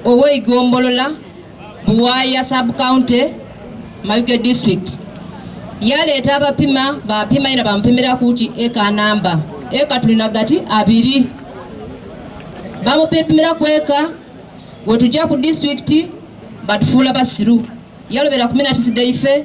ow'eigombolola Buwaaya sub county Mayuge district yaleeta abapima bapima ina bamupimira kuti eka namba eka tulina gati abiri bamupimira kweka wetujja ku district batufuula basiru yalobera kuminatisideyife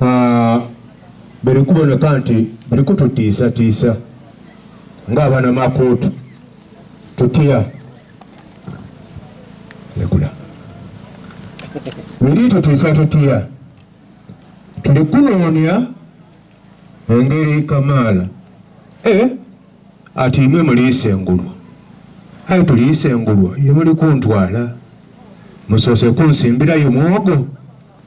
ah, biri kuboneka nti biri kututiisatiisa ng'abana makuutu tutya ekula biri tutiisa tutya tuli kunoonya engeri kamaala eh, ati imwe muliisa engulwa aye tuliisa engulwa ye muli kuntwala musoose kunsimbirayo mwogo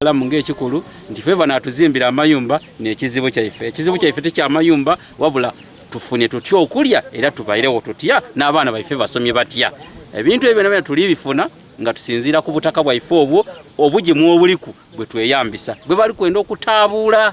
salamu ng'ekikulu nti feva natuzimbira amayumba nekizibu kyaife ekizibu kyaife tekyamayumba wabula tufune tutya okulya era tubairewo tutya n'abaana baife basomye batya ebintu ebyo byona tuli bifuna nga tusinziira ku butaka bwaife obwo obugimu obuliku bwe tweyambisa bwe bali kwenda okutaabuula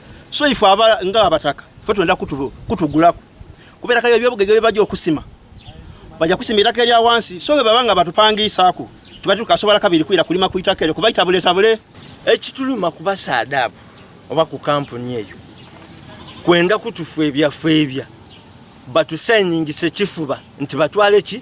so ife aba nga abataka fe twenda kutugulaku kubeera kayo ebyobugege bye bajja okusima bajja kusima itaka erya wansi so bwe baba nga batupangiisaako tuba tukasobola kabiri kwira kulima ku itaka eryo kuba itabuletabule ekituluma kuba saadaabu oba ku kampuni eyo kwenda kutufu ebyafeebya batusayiningisa ekifuba nti batwale ki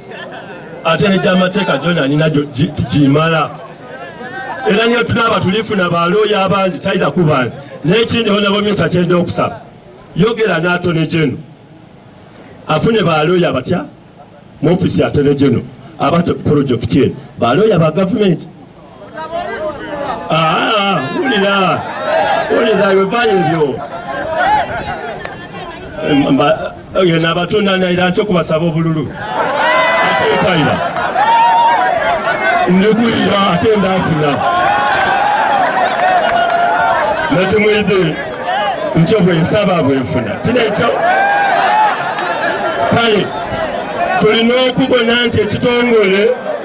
ate negyamateeka gyona nina gyimala era niyo tunaaba tulifuna balooya abandi talina kuba nze nekindi onabomyesa kyenda okusaba yogera n'atone geno afune balooya abatya mu ofisi ya tone geno abate ku projekiti eno balooya ba gavumenti wulira wulira ebivayo ebyo oyo nabatunda naira nti okubasaba obululu ate etaira ndikuyira ate ndafuna nakimuyidde nkyo bwensaba bwenfuna kino ekyo kale tulina okubona nti ekitongole